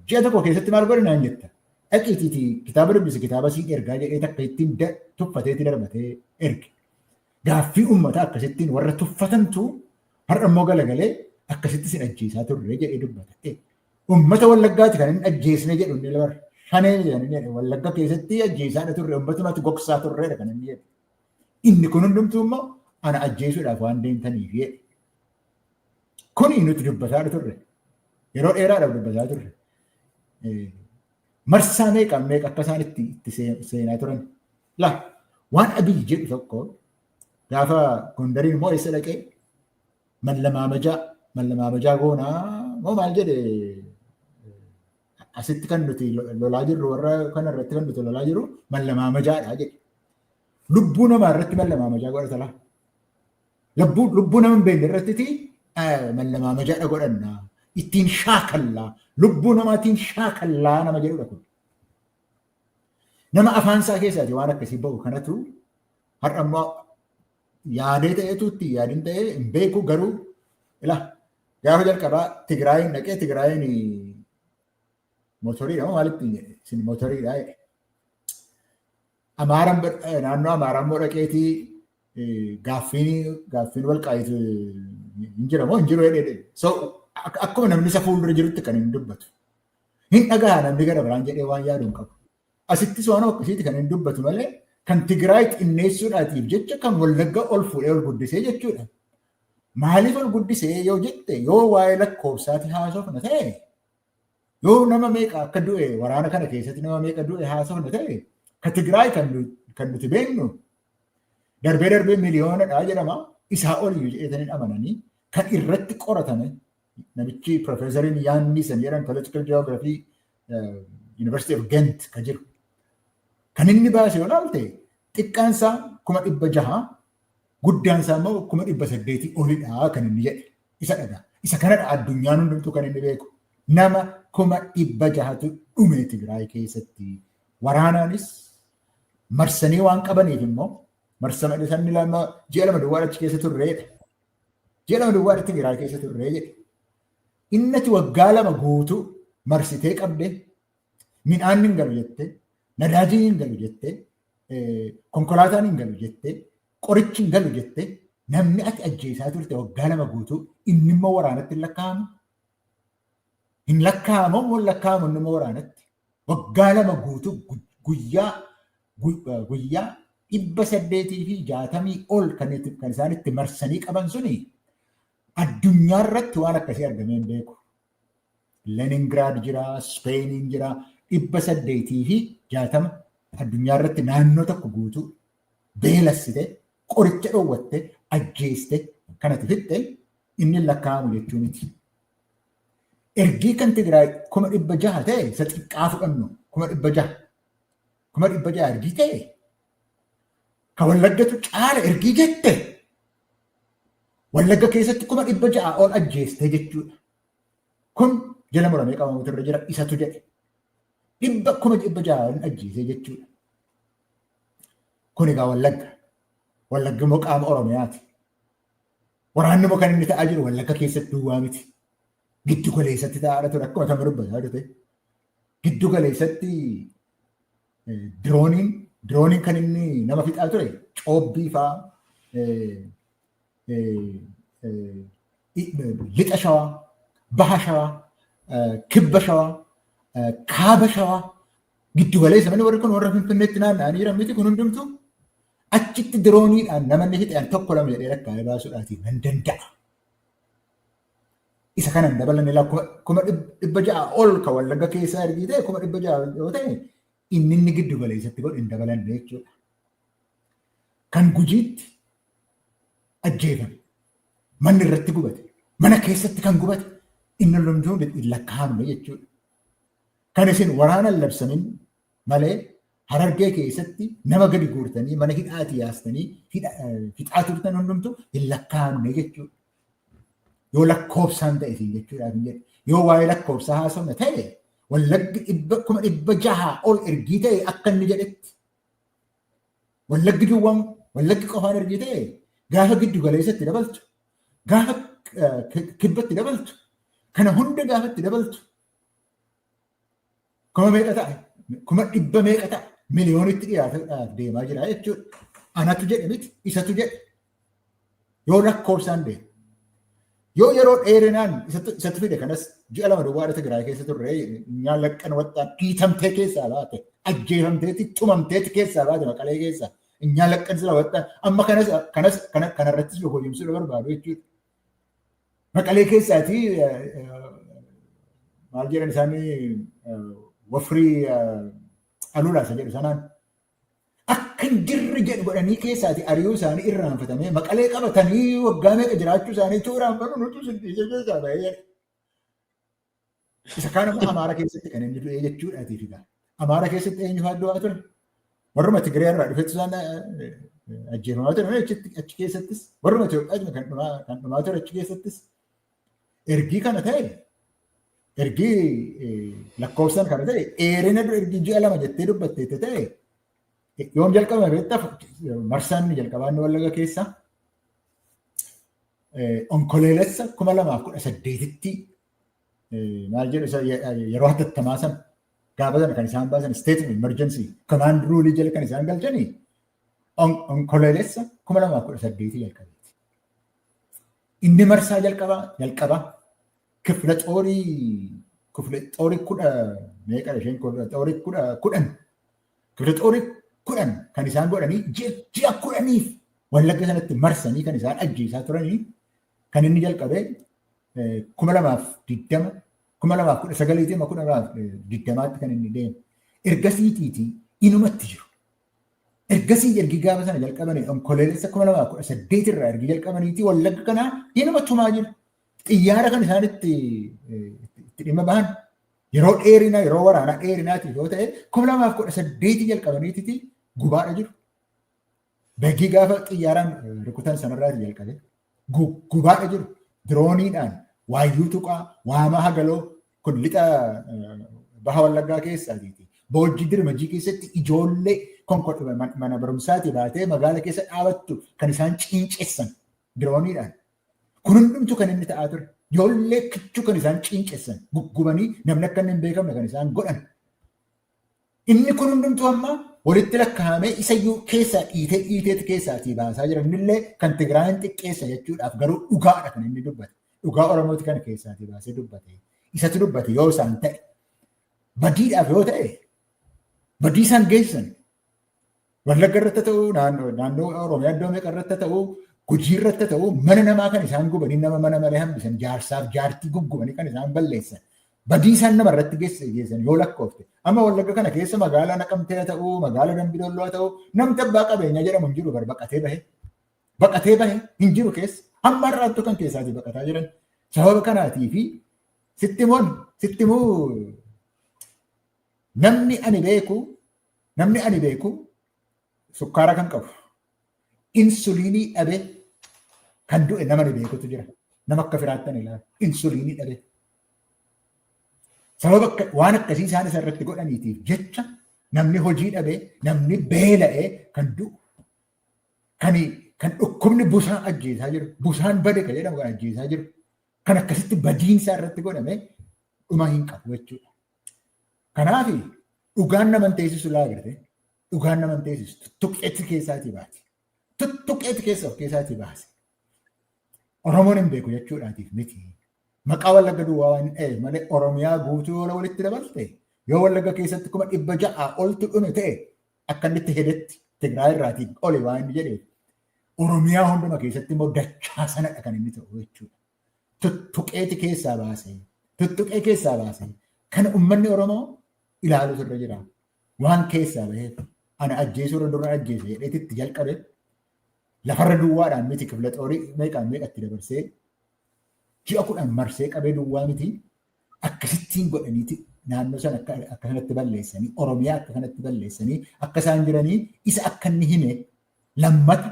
ji'a tokko keessatti maal godhe naan jetta. Dhaqiitiiti kitaaba dubbisi kitaaba siin ergaa jedhee takka ittiin tuffateeti darbatee erge. Gaaffii uummataa akkasittiin warra tuffatantu har'a immoo galagalee akkasitti sin ajjeesaa turre jedhee dubbata. Uummata wallaggaati kan inni ajjeesne jedhu inni labar shanee kan inni jedhe wallagga keessatti ajjeesaadha turre uummatumatti gogsaa turreedha kan inni jedhe. Inni kun hundumtuu immoo ana ajjeesuudhaaf waan deemtaniif jedhe. Kuni nuti dubbataa turre. Yeroo dheeraadhaaf dubbataa turre. Marsaa meeqaan meeqa akka isaan itti itti seenaa turan. Laa waan Abiy jedhu tokko gaafa Gondariin immoo eessa dhaqee mallamaamajaa mallamaamajaa goonaa moo maal jedhe asitti kan nuti lolaa jirru warra kana irratti kan nuti lolaa jirru mallamaamajaadha jedhe. Lubbuu namaa irratti mallamaamajaa godhata laa. Lubbuu lubbuu nama hin beekne irratti mallamaamajaadha godhanna. Ittiin shaakallaa. Lubbuu namaatiin shaakallaa nama jedhudha kun. Nama afaan isaa keessaati waan akkasii ba'u kanatu har'a immoo yaadee ta'etu itti yaadin ta'ee hin beeku garuu ila gaafa jalqabaa Tigraayiin dhaqee Tigraayiin motoriidha moo maalitti isin motoriidha jedhe. Amaaran naannoo Amaaraa immoo dhaqeetii gaaffiin gaaffiin walqaayitu hin jira moo hin jiru jedhee so akkuma namni isa fuuldura jirutti kan hin dubbatu. Hin dhagaha namni gara biraan jedhee waan yaadu hin qabu. Asittis waan akkasiiti kan hin dubbatu malee kan Tigraay xinneessuudhaatiif jecha kan wallagga ol fuudhee ol guddisee jechuudha. Maaliif ol guddisee yoo jette yoo waa'ee lakkoofsaati haasofna ta'e Yoo nama meeqa akka du'e waraana kana keessatti nama meeqa du'e haasofna ta'e ka Tigraay kan nu- kan nuti beeknu darbee darbee miliyoonadha jedhama isaa oliyyuu jedhanii amananii kan irratti qoratame namichi piroofeesariin yaanni san jedhan political geography eh, University of Ghent ka jiru kan inni baase yoo ilaalte xiqqaan isaa kuma dhibba jaha Guddaan isaa immoo kuma dhibba saddeetii olidha kan inni jedhe. Isa dhagaa. Isa kanadha addunyaan hundumtuu kan inni beeku. Nama kuma dhibba jahatu dhume Tigraay keessatti. Waraanaanis marsanii waan qabaniif immoo marsama dhisanni lama ji'a lama duwwaa achi keessa turreedha. Ji'a lama duwwaa achi Tigraay keessa turree jedhe. Innati waggaa lama guutuu marsitee qabdee midhaan hin galu jettee nadaajiin hin galu jettee konkolaataan hin galu jettee qorichi hin galu jettee namni ati ajjeesaa turte waggaa lama guutuu inni immoo waraanatti hin lakkaa'amu. Hin lakkaa'amu immoo hin lakkaa'amu inni immoo waraanatti. Waggaa lama guutuu guyyaa guyyaa dhibba saddeetii fi jaatamii ol kan isaan itti marsanii qaban suni addunyaa irratti waan akkasii argamee hin beeku. Leningiraad jira, Ispeeniin jira, dhibba saddeetii fi jaatama addunyaa irratti naannoo tokko guutuu beelassite, qoricha dhoowwatte, ajjeeste, kanatti fixxe inni lakkaa'amu jechuu miti. Ergii kan Tigraay kuma dhibba jaha ta'e isa xiqqaa fudhannu kuma dhibba jaha. Kuma dhibba jaha ergii ta'e ka wallaggatu caala ergii jette Wallagga keessatti kuma dhibba ja'a ol ajjeestee jechuudha. Kun jala muramee qabamuutu irra jira isatu jedhe. Dhibba kuma dhibba ja'a ol ajjeesee jechuudha. Kun egaa wallagga. Wallaggi immoo qaama Oromiyaati. Waraanni immoo kan inni ta'aa jiru wallagga keessatti duwwaa miti. Giddu galeessatti ta'aa ture akkuma kan dubbataa ture. Giddu galeessatti dirooniin dirooniin kan inni nama fixaa ture coobbii faa lixa shawaa baha shawaa kibba shawaa kaaba shawaa giddu galeessa manni warri kun warra finfinneetti naanna'anii jiran miti kun hundumtu achitti dirooniidhaan namanni fixan tokko lama jedhee rakkaa'ee baasuudhaatiin nan danda'a. Isa kana hin dabalanne laa kuma dhibba ja'a ol ka wallagga keessaa ergii ta'e kuma dhibba ja'a yoo ta'e inni inni giddu galeessatti godhe hin dabalanne jechuudha. Kan gujiitti ajjeefame manni irratti gubate mana keessatti kan gubate inni lolumtuu hin lakkaa'amne jechuudha. Kan isin waraana labsamin malee harargee keessatti nama gadi guurtanii mana hidhaati yaastanii fixaa turtan hundumtu hin lakkaa'amne jechuudha. Yoo lakkoofsaan ta'e isin jechuudhaaf hin jedhu. Yoo waa'ee lakkoofsaa haasofna ta'e wallaggi dhibba kuma dhibba jahaa ol ergii ta'e akka inni jedhetti. Wallaggi duwwaan wallaggi qofaan ergii ta'e gaafa giddu galeessatti dabaltu gaafa kibbatti dabaltu kana hunda gaafatti dabaltu Kuma meeqa ta'a? Kuma dhibba meeqa ta'a? Miliyoonitti dhiyaataaf deemaa jira jechuudha. Anatu jedhe miti isatu jedhe. Yoo lakkoofsaan deemu. Yoo yeroo dheerinaan isatti fide kanas ji'a lama duwwaadha Tigraay keessa turre nyaan laqqan waxxaan dhiitamtee keessaa baate ajjeefamteeti tumamteeti keessaa baate maqalee keessaa nyaan laqqan sila waxxaan amma kanas kanas kanarrattis hojjumsuu barbaadu jechuudha. Maqalee keessaati maal jedhan isaanii wafrii alulaa isa jedhu sanaan akka hin jirre jedhu godhanii keessaati ari'uu isaanii irraanfatamee maqalee qabatanii waggaa meeqa jiraachuu isaanii utuu irraanfatu nutu siddhiisee keessaa bahee jedha. Isa kaan ammoo Amaara keessatti kan inni du'ee jechuudha atiif egaa. Amaara keessatti eenyu fa'aa du'aa ture? Warruma Tigiree irraa dhufetti isaan ajjeefamaa ture achi keessattis warruma Itoophiyaa kan dhumaa ture achi keessattis ergii kana ta'e ergii lakkoofsan kana ta'e dheerina ergii ji'a lama jettee dubbatteetti ta'e yoom jalqabame beektaa marsaan inni jalqabaa inni wallaga keessaa Onkoleelessa kuma lamaaf kudha saddeetitti maal jedhu yeroo hatattamaa sana gaafa sana kan isaan baasan state of emergency command rule jala kan isaan galchanii onkoleelessa kuma lamaaf kudha saddeetii jalqabeeti. Inni marsaa jalqabaa jalqabaa kifla xoorii kifla xoorii kudha meeqa isheen kifla xoorii kudha kudhan Kibirixoori kudhan kan isaan godhanii ji'a kudhaniif wallagga sanatti marsanii kan isaan ajjeesaa turanii kan inni jalqabee kuma lamaaf digdama kuma lamaaf kudha sagaliitii amma kuma lamaaf digdamaatti kan inni deemu ergasiitiitii inumatti jiru. Ergasii ergi gaafa sana jalqabanii onkoloolessa kuma lamaaf kudha saddeet irraa ergi jalqabaniitii wallagga kanaa inuma tumaa jiru. Xiyyaara kan isaan itti dhimma bahan Yeroo dheerina yeroo waraanaa dheerinaatiif yoo ta'e kuma lamaaf kudha saddeetii jalqabaniititi gubaadha jiru. Dargii gaafa xiyyaaraan rukutan sanarraati jalqabe. Gubaadha jiru. Dirooniidhaan waayyuu tuqaa waamaa hagaloo kun lixa baha wallaggaa keessaa jeeti. Boojjii dirmajii keessatti ijoollee mana barumsaati baatee magaala keessa dhaabattu kan isaan ciincessan dirooniidhaan. Kun hundumtuu kan inni ta'aa ture. Ijoollee kichuu kan isaan ciincessan, guggubanii namni akka inni hin beekamne kan isaan godhan. Inni kun hundumtuu amma walitti lakkaa'amee isa iyyuu keessaa dhiitee dhiiteetti keessaa asii baasaa jira. Innillee kan Tigraayin xiqqeessa jechuudhaaf garuu dhugaadha kan inni dubbate. Dhugaa Oromooti kana keessaa asii baasee dubbate. Isatu dubbate yoo isaan ta'e. Badiidhaaf yoo ta'e badii isaan geessisan Wallagga irratti ta'u, naannoo Oromiyaa iddoo meeqa irratti ta'u, gujii irratti ta'u, mana namaa kan isaan gubanii nama mana malee hambisan, jaarsaaf jaartii guggubanii kan isaan balleessan. Badii isaan nama irratti geessan yoo lakkoofte. Amma wallagga kana keessa magaalaa naqamtee ta'u, magaalaa dambidolloo ta'u, namni abbaa qabeenyaa jedhamu hin jiru baqatee bahe. Baqatee bahe hin jiru keessa. Amma har'aattuu kan keessaatii baqataa jiran. Sababa kanaatii fi sitti moon sitti moo namni ani beeku Namni ani beeku sukkaara kan qabu insuliinii dhabe kan du'e nama ni beekutu jira. Nama akka firaattan ilaala. Insuliinii dhabe. Sababa akka waan akkasii isaan isa irratti godhaniitiif jecha namni hojii dhabe, namni beela'ee kan du'u. Kan kan dhukkubni busaa ajjeesaa jiru, busaan bade kan jedhamu kan ajjeesaa jiru. Kan akkasitti badiinsaa irratti godhame dhuma hin qabu jechuudha. Kanaaf Dhugaan nama hin teessisu laa agartee. Dhugaan nama hin teessisu. Tuttuqqeetti keessaatii baate. Tuttuqqeetti keessa of keessaatii baase. Oromoon hin beeku jechuudhaatiif miti. Maqaa wallagga duwwaa waan ta'eef malee Oromiyaa guutuu yoo walitti dabalte yoo wallagga keessatti kuma dhibba ja'aa oltu dhume ta'e akka inni itti hedetti Tigraay irraatiin oli waan inni jedheef Oromiyaa hunduma keessatti immoo dachaa sanadha kan inni ta'u jechuudha. tuttuqeeti keessaa baase. Tuttuqee keessaa baase. Kana uummanni Oromoo ilaaluutu irra jira. Waan keessaa baheef ana ajjeesuu irra dura ajjeese jedheeti itti jalqabe. Lafarra duwwaadhaan miti kifla xoorii meeqaan meeqatti dabarsee ji'a kudhan marsee qabee duwwaa miti. Akkasittiin godhaniiti naannoo sana akka akka kanatti balleessanii Oromiyaa akka kanatti balleessanii akka isaan jiranii isa akka inni hime lammata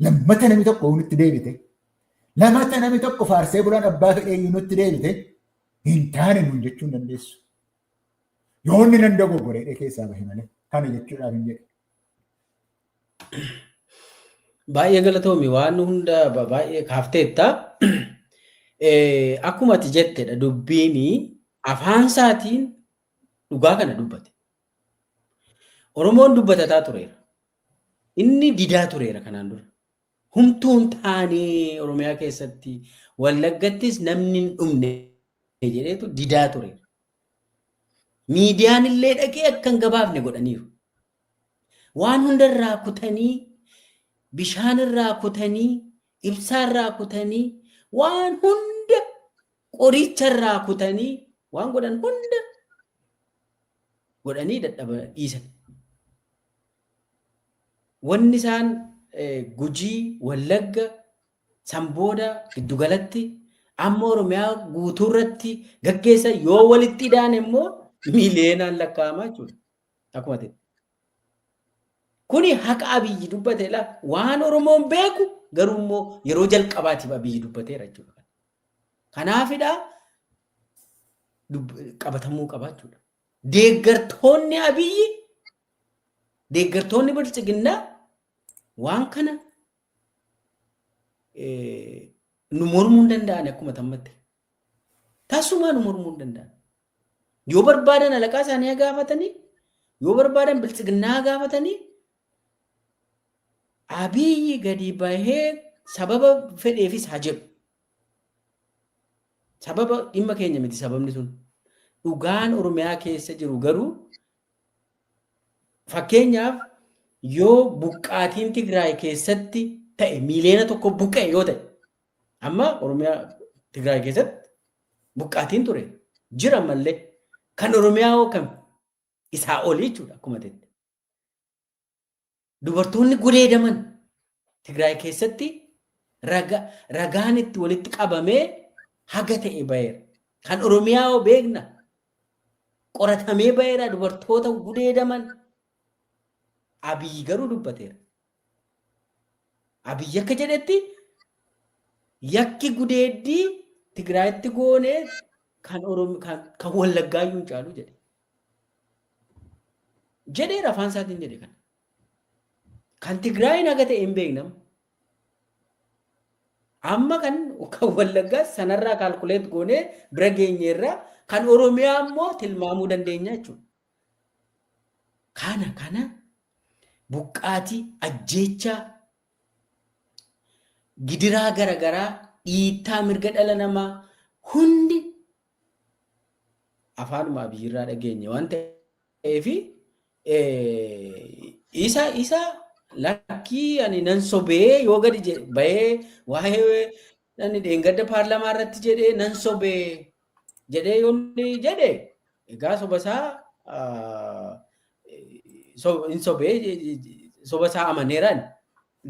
lammata namni tokko nutti deebite Lamata namni tokko faarsee bulaan abbaa fedhee iyyuu nutti deebite hin taane nuun jechuu hin dandeessu. Yoo inni nan dogoggoreedhee keessaa bahe malee kana jechuudhaaf hin jedhe. Baay'ee galatoomi waan hunda ba- baay'ee kaafteetta. Eh, Akkuma ati jettedha dubbiin afaan isaatiin dhugaa kana dubbate. Oromoon dubbatataa tureera. Inni didaa tureera kanaan dura. Humtuu hin taanee Oromiyaa keessatti Wallaggattis namni hin dhumne jedheetu didaa ture. Miidiyaan illee dhaqee akka hin gabaafne godhaniiru. Waan hunda irraa kutanii, bishaan irraa kutanii, ibsaa irraa kutanii, waan hunda qoricha irraa kutanii waan godhan hunda godhanii dadhaba dhiisan. Wanni isaan Gujii, Wallagga, san booda giddugalatti amma Oromiyaa guutuu irratti gaggeessan yoo walitti idaan immoo miiliyeenaan lakkaa'ama jechuudha. Akkuma ta'e. Kuni haqa abiyyi dubbate la waan Oromoon beeku garuu immoo yeroo jalqabaatiif abiyyi dubbateera jechuudha. Kanaafidha qabatamuu qabaa jechuudha. Deeggartoonni abiyyi Deeggartoonni Biltsiginnaa waan kana nu mormuu hin danda'an akkuma tammatti. Tasumaa nu mormuu hin danda'an. Yoo barbaadan alaqaa isaanii haa gaafatanii, yoo barbaadan biltsiginnaa haa gaafatanii, abiyyi gadi bahee sababa fedheefis haa jedhu. Sababa dhimma keenya miti sababni sun. Dhugaan Oromiyaa keessa jiru garuu Fakkeenyaaf yoo buqqaatiin Tigraay keessatti ta'e miiliyoona tokko buqqa'e yoo ta'e amma Oromiyaa Tigraay keessatti buqqaatiin ture jira mallee kan Oromiyaa hoo kami isaa oli jechuudha akkuma ta'etti. Dubartoonni gudeedaman Tigraay keessatti raga- ragaan itti walitti qabamee haga ta'e baheera. Kan Oromiyaa hoo beekna. Qoratamee baheera dubartoota gudeedaman. Abiyyi garuu dubbateera. Abiyyi akka jedhetti yakki gudeeddii Tigraayitti goone kan Oromi- kan- kan Wallaggaayyuu hin caalu jedhe. jedheera afaan isaatiin jedhe kana. Kan Tigraayiin haga ta'e hin beeknam. Amma kan kan Wallaggaa sanarraa kaalkuleet goonee bira geenyeerra kan Oromiyaa immoo tilmaamuu dandeenya jechuudha. Kana kana buqqaatii ajjeechaa gidiraa garaagaraa dhiittaa mirga dhala namaa hundi afaanuma abiyyiirraa dhageenye waan ta'eef isa isa lakkii ani nan sobee yoo gadi je- bahee waa'ee ani dheengadda paarlamaa irratti jedhee nan sobee jedhee yoo inni jedhe egaa sobasaa ah, so- hin sobee je- je- je- sobasaa amaneeraan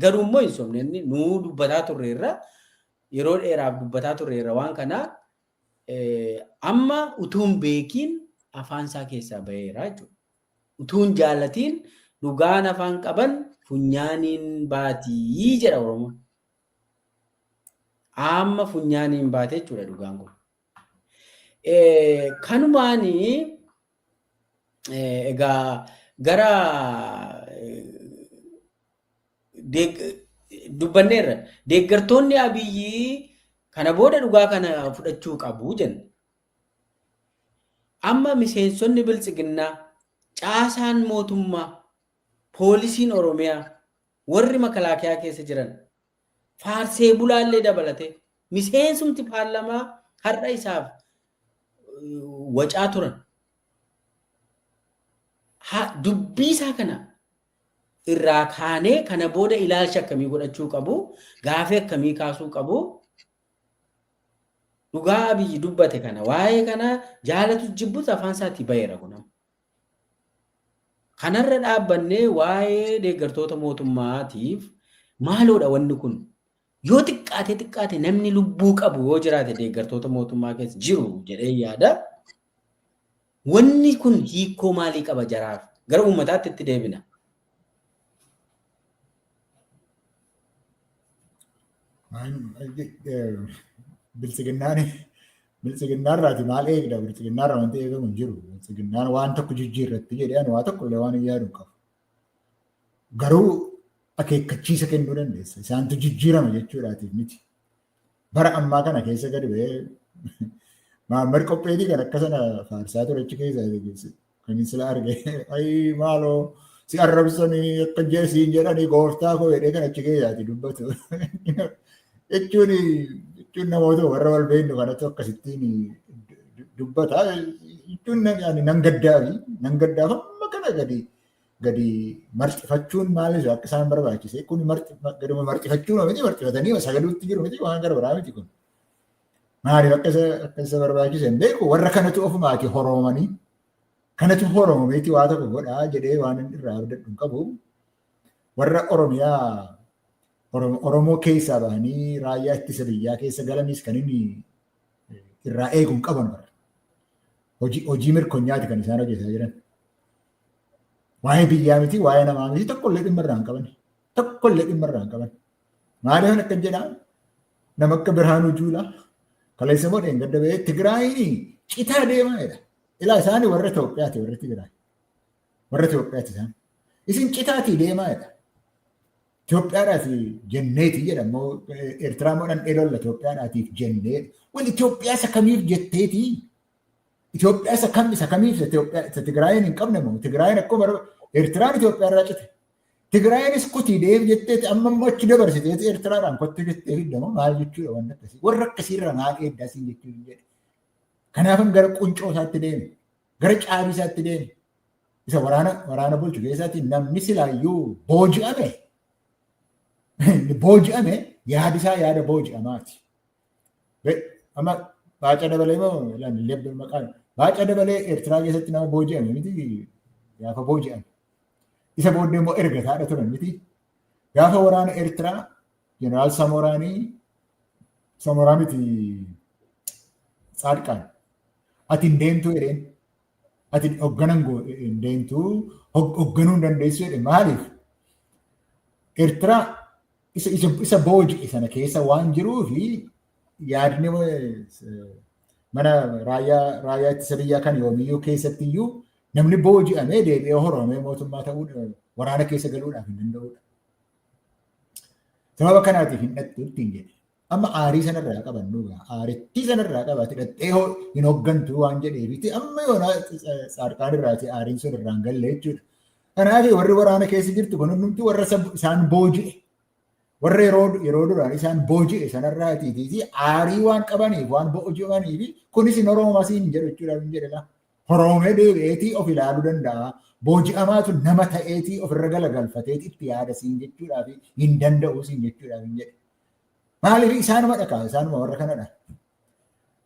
garuu immoo hin sobne inni nuu dubbataa turreerra yeroo dheeraaf dubbataa turreerra waan kanaa Amma utuu hin beekiin afaan isaa keessaa baheera jechuudha. Utuu hin jaalatiin dhugaan afaan qaban funyaaniin baatii jedha Oromoon. Amma funyaaniin baate jechuudha dhugaan kun. Kanumaan egaa gara dubbanneerra. Deeggartoonni Abiyyii kana booda dhugaa kana fudhachuu qabu jenna. Amma miseensonni biltsiginnaa caasaan mootummaa poolisiin Oromiyaa warri makalaakiyaa keessa jiran faarsee bulaallee dabalate miseensumti paarlamaa har'a isaaf wacaa turan. Dubbii isaa kana irraa kaanee kana booda ilaalcha akkamii godhachuu qabu, gaafii akkamii kaasuu qabu. Dhugaa Abiyyi dubbate kana waa'ee kana jaalatu jibbus afaan isaatii baheera kun amma. Kanarra dhaabbannee waa'ee deeggartoota mootummaatiif maaloodha wanni kun Yoo xiqqaatee xiqqaate namni lubbuu qabu yoo jiraate deeggartoota mootummaa keessa jiru jedhee yaada. Wanni kun hiikoo maalii qaba jaraaf? Gara uummataatti itti deebina. Biltsiginnaan biltsiginnaa irraati maal eegda biltsiginnaa irraa wanti eegamu hin jiru biltsiginnaan waan tokko jijjiirratti jedhee ani waa tokko illee waan hin yaadu qabu Garuu akeekkachiisa kennuu dandeessa. Isaantu jijjiirama jechuudhaatiif miti. Bara ammaa kana keessa gadi ba'ee Mahammad Qopheetii kan akka sana faarsaa ture achi keessa kan inni sila arge ayii maaloo si arrabsanii akka siin jedhanii gooftaa koo jedhee kan achi keessaati dubbatu. Jechuun jechuun namoota warra wal beeknu kanatu akkasittiin dubbata. Jechuun ani nan gaddaafi nan gaddaaf amma kana gadi gadi marxifachuun maalis akka isaan barbaachise kun gaduma marxifachuun miti marxifatanii sagaduutti jiru miti waan gara biraa miti kun. Maaliif akka isa akka isa barbaachise hin beeku warra kanatu ofumaati horoomanii kanatu horoomeeti waa tokko godhaa jedhee waan irraa abdadhu hin qabu. warra Oromiyaa Oromoo keessaa bahanii raayyaa ittisa biyyaa keessa galaniis kan inni irraa eegu hin qaban bara. Hojii mirkonyaati kan isaan hojjetaa jiran. Waa'ee biyyaa miti, waa'ee namaa miti tokkollee dhimma irraa hin qaban. Tokkollee dhimma irraa hin qaban. Maaliif kan akka jedhaa nama akka Birhaanuu Juulaa kaleessa immoo dheengadda bahee Tigraayiin citaa deemaa jedha. Ilaa isaanii warra Itoophiyaati warra Tigraay. Warra Itoophiyaatti isaan. Isin citaatii deemaa jedha. Itoophiyaadhaatii jenneeti jedha immoo Eertiraa immoo dhandhee lolla Itoophiyaadhaatiif jennee. Wal Itoophiyaa isa kamiif jetteeti? Itoophiyaa isa kam isa kamiif isa Itoophiyaa isa Tigraayiin hin qabne moo Tigraayiin akkuma bara Eertiraan Itoophiyaa irraa cite. Tigraayiinis kutii deef jetteeti amma immoo achi dabarsiteeti Eertiraadhaan kottu jettee fiddamoo maal jechuudha wanti akkasii warra akkasiirra maal eeddaa siin jechuun jedhe. Kanaafan gara quncoo isaatti deeme. gara caabii isaatti deeme. Isa waraana waraana bulchu keessatti namni silaayyuu booji'ame booji'ame yaadi isaa yaada booji'amaati. Amma baaca dabalee moo lebbee maqaan baaca dabalee Eertiraa keessatti nama booji'ame miti gaafa booji'ame. Isa booddee immoo erga taadha turan miti. Gaafa waraana Eertiraa Jeneraal Samoraanii Samoraa miti Tsaadqaan ati hin deemtuu jedheen ati hoogganan hin deemtuu hoogganuu hin dandeessu jedhe maaliif Eertiraa isa isa isa booji'e sana keessa waan jiruu fi yaadni mana raayyaa raayyaa ittisa biyyaa kan yoomiyyuu keessatti iyyuu namni booji'amee deebi'ee horomee mootummaa ta'uu waraana keessa galuudhaaf hin danda'udha. Sababa kanaatiif hin dhattu ittiin jedhe. Amma aarii sanarraa qabannu aarittii sanarraa qabaate dhattee hin hooggantu waan jedheefiti amma yoona saarqaan irraati aariin sun irraan galle jechuudha. Kanaaf warri waraana keessa jirtu kun hundumti warra isaan booji'e warra yeroo yeroo duraan isaan booji'e sanarraatiitii aarii waan qabaniif waan booji'amaniif kunis hin oroomasii hin jedhu jechuudha hin jedhela. Horoomee deebi'eetii of ilaaluu danda'a. Booji'amaatu nama ta'eetii ofirra galagalfateeti itti yaada siin jechuudhaa fi hin danda'uu siin jechuudhaaf hin jedhe. Maaliif isaanuma dhakaa isaanuma warra kanadha.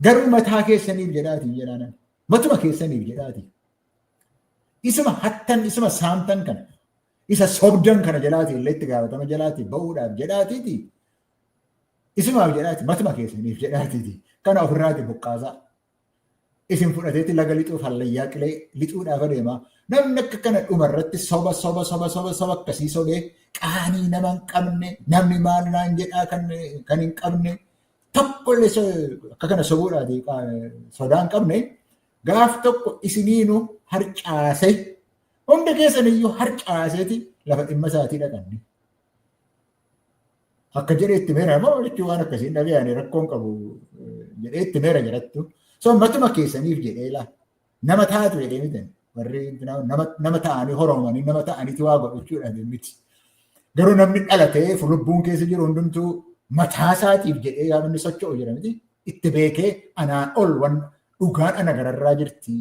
Garuu mataa keessaniif jedhaatiin jedhaanan. Matuma keessaniif jedhaatiin. Isuma hattan isuma saamtan kana isa sobdan kana jalaatiin illee itti gaafatama jalaatiin ba'uudhaaf jedhaatiiti. Isumaaf jedhaati matuma keessaniif jedhaatiiti. Kana ofirraati buqqaasaa. isin fudhateeti laga lixuuf hallayyaa qilee lixuudhaaf adeema. Namni akka kana dhuma irratti soba soba soba soba soba akkasii sobee qaanii nama hin qabne namni maal naan jedhaa kan kan hin qabne tokkollee so- akka kana sobuudhaati qa- sodaa hin qabne gaaf tokko isiniinu harcaase hunda keessaniyyuu harcaaseeti lafa dhimma isaatii dhaqanne. Akka jedhee itti meera moo jechuun waan akkasii hin dhagee ani rakkoon qabu jedhee itti meera jedhattu. So matuma keessaniif jedhee laa nama taatu jedhee mitan warri nama ta'anii horomanii nama ta'aniitu waa godhachuudhaan miti. Garuu namni dhalatee lubbuun keessa jiru hundumtuu mataa isaatiif jedhee gaafa inni socho'u jira miti itti beekee anaa ol waan dhugaan ana gararraa jirti.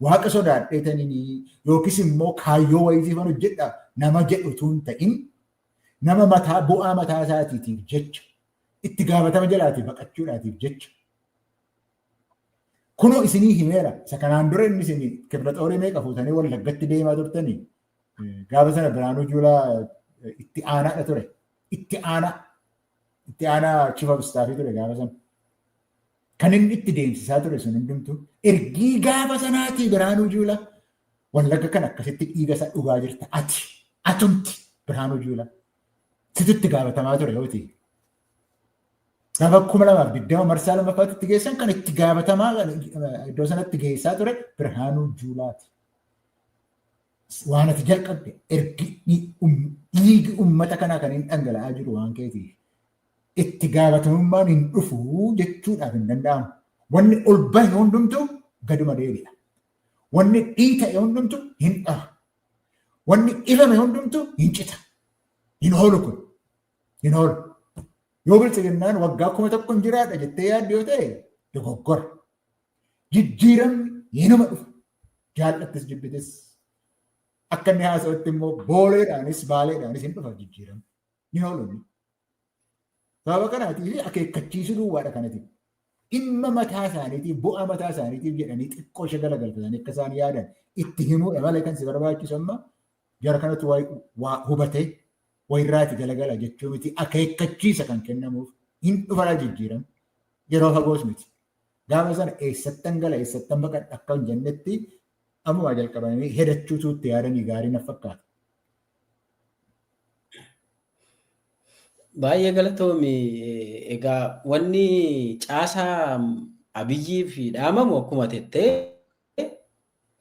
Waaqa sodaadheetanii yookiis immoo kaayyoo wayiitiif hojjedha nama jedhutu hin ta'in Nama mataa bu'aa mataa isaatiitiif jecha itti gaafatama jalaati baqachuudhaatiif jecha. Kunoo isinii himeera isa kanaan dura inni isin kibra xoorii meeqa fuutanii wallaggatti deemaa turtanii gaafa sana Biraanuu Juulaa itti aanaadha ture. Itti aanaa itti aanaa chief of staffii ture gaafa sana. Kan inni itti deemsisaa ture sun hundumtuu ergii gaafa sanaatii Birhaanuu Juulaa wallagga kan akkasitti dhiiga isaa dhugaa jirta ati atumti Birhaanuu Juulaa situ itti gaafatamaa ture yoo ta'e. Gaafa kuma lamaaf digdama marsaa lammaffaatti itti geessan kan itti gaafatamaa iddoo sanatti geessaa ture Birhaanuu Juulaati. Waan ati jalqabde ergi dhiigi uummata kanaa kan hin dhangala'aa jiru waan keetiif. itti gaafatamummaan hin dhufu jechuudhaaf hin danda'amu. Wanni ol bahe hundumtu gaduma deebi'a. Wanni dhiita'e hundumtu hin dhaha. Wanni dhibame hundumtu hin cita. Hin hoolu kun. Hin hoolu. Yoo biltsiginnaan waggaa kuma tokko hin jiraadha jettee yaadde yoo ta'e dogoggora. Jijjiiramni hinuma dhufu. Jaallattis jibbitis. Akka inni haasa'utti immoo booleedhaanis baaleedhaanis hin dhufa jijjiiramni. ni hoolonni. Sababa kanaatiif akeekkachiisuu duwwaadha kanatiif. Dhimma mataa isaaniitiif, bu'aa mataa isaaniitiif jedhanii xiqqoo ishee galagalfatanii akka isaan yaadan itti himuudha malee kan si barbaachisu amma jara kanatu waa hubatee wayirraati galagala jechuu miti akeekkachiisa kan kennamuuf hin dhufaraa jijjiiramu yeroo fagoos miti. Gaafa sana eessattan gala eessattan baqadha akka hin jennetti ammumaa jalqabanii hedachuutu itti yaadanii gaarii naf fakkaata. Baay'ee galatoomi. Egaa wanni caasaa Abiyyiif dhaamamu akkuma tettee